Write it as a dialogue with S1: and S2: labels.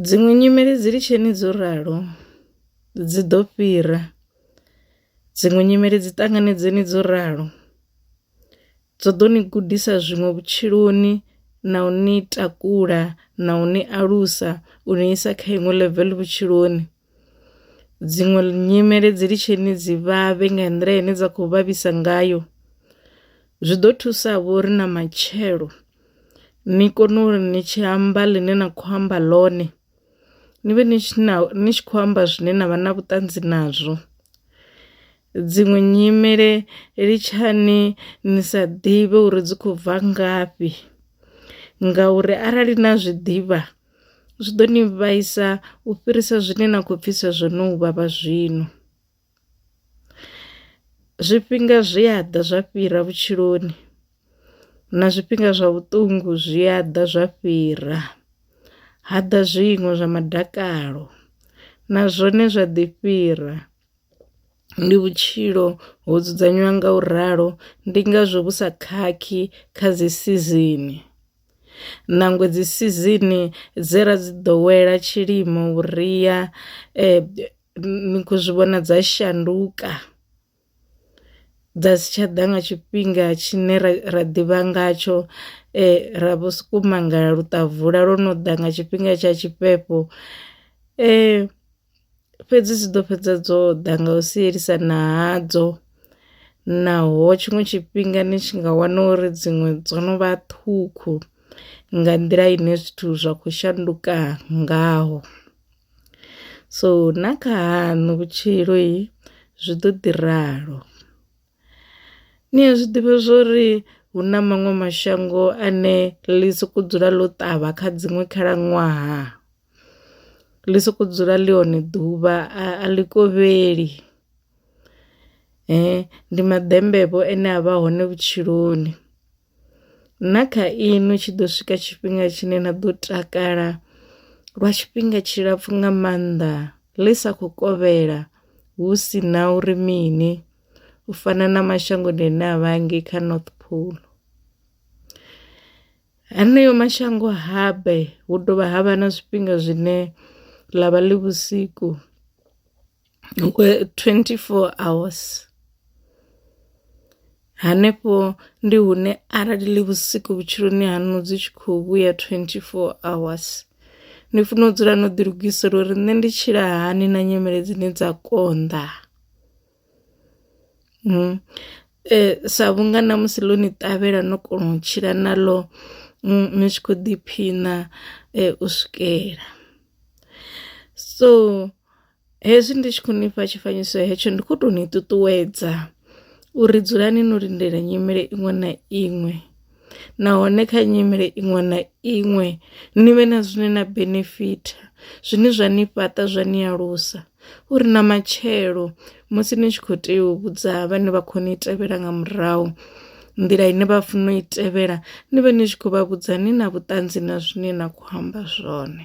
S1: Dziṅwe nyimele dzi lisheni dzo ralo dzi ḓo fhira, dziṅwe nyimele dzi ṱanganedzeni dzo ralo dzo ḓo ni gudisa zwiṅwe vhutshiloni na u ni takula na u ni alusa u ni isa kha iṅwe level vhutshiloni. Dziṅwe nyimele dzi litsheni dzi vhavhe nga nḓila ine dza kho vhavhisa ngayo zwi ḓo thusa vho ri na matshelo ni kone uri ni tshi amba ḽine na kho amba ḽone ni vhe ni tshi na ni tshi khou amba zwine na vha na vhuṱanzi nazwo. Dziṅwe nyimele litshani ni sa ḓivhe uri dzi khou bva ngafhi ngauri arali na zwiḓivha. Zwi ḓo ni vhaisa u fhirisa zwine na khou pfisa zwo no vhavha zwino. Zwifhinga zwi a ḓa zwa fhira vhutshiloni na zwifhinga zwa vhuṱungu zwi a ḓa zwa fhira, ha ḓa zwiṅwe zwa madakalo na zwone zwa ḓi fhira. ndi vhutshilo ho dzudzanywa nga u ralo ndi ngazwo vhu sa khakhi kha dzi sizini. Nangwe dzi sizini dze ra dzi ḓowela tshilimo vhuria ni kho zwi vhona dza shanduka dza si tsha ḓa nga tshifhinga tshine ra ra ḓivha ngatsho ra vho soko mangala luṱavula lwo no ḓa nga tshifhinga tsha tshifhefho . fhedzi dzi ḓo fhedza dzo ḓa nga u sielisana hadzo naho tshiṅwe tshifhinga ni tshi nga wana uri dziṅwe dzo no vha ṱhukhu nga nḓila ine zwithu zwa khou shanduka ngaho so na kha haṋu vhutshilo i zwi ḓo ḓi ralo ni a zwi ḓivha zwori hu na maṅwe mashango ane ḽi soko dzula ḽo ṱavha kha dziṅwe khalaṅwaha. ḽi soko dzula ḽi hone ḓuvha a ḽi kovheli ndi maḓembe vho ane a vha hone vhutshiloni. Na kha inwi tshi ḓo swika tshifhinga tshine na ḓo takala lwa tshifhinga tshilapfu nga maanḓa ḽi sa kho kovhela hu si na uri mini u fana na mashangoni ane a vha ngei kha north pole. Haneyo mashango habe hu dovha ha vha na zwifhinga zwine ḽa vha ḽi vhusiku 24 hours. Hanefho ndi hune arali ḽi vhusiku vhutshiloni hanu dzi tshi kho vhuya 24 hours ni funa u dzula no ḓi lugisela uri nṋe ndi tshila hani na nyimele dzine dza konḓa. Sa vhunga na musi ḽo ni ṱavhela no kona u tshila na ḽo ni tshi kho ḓiphiṋa u swikela, so hezwi ndi tshi khou ni fha tshifanyiso hetsho ndi kho to ni ṱuṱuwedza uri dzulani no lindela nyimele iṅwe na iṅwe. nahone kha nyimele iṅwe na iṅwe ni vhe na zwine na benefitha zwine zwa ni fhaṱa zwa ni alusa uri na matshelo musi ni tshi kho tea u vhudza vhane vha kho ni tevhela nga murahu nḓila ine vha funa u i tevhela ni vhe ni tshi khou vha vhudza ni na vhuṱanzi na zwine na khou amba zwone.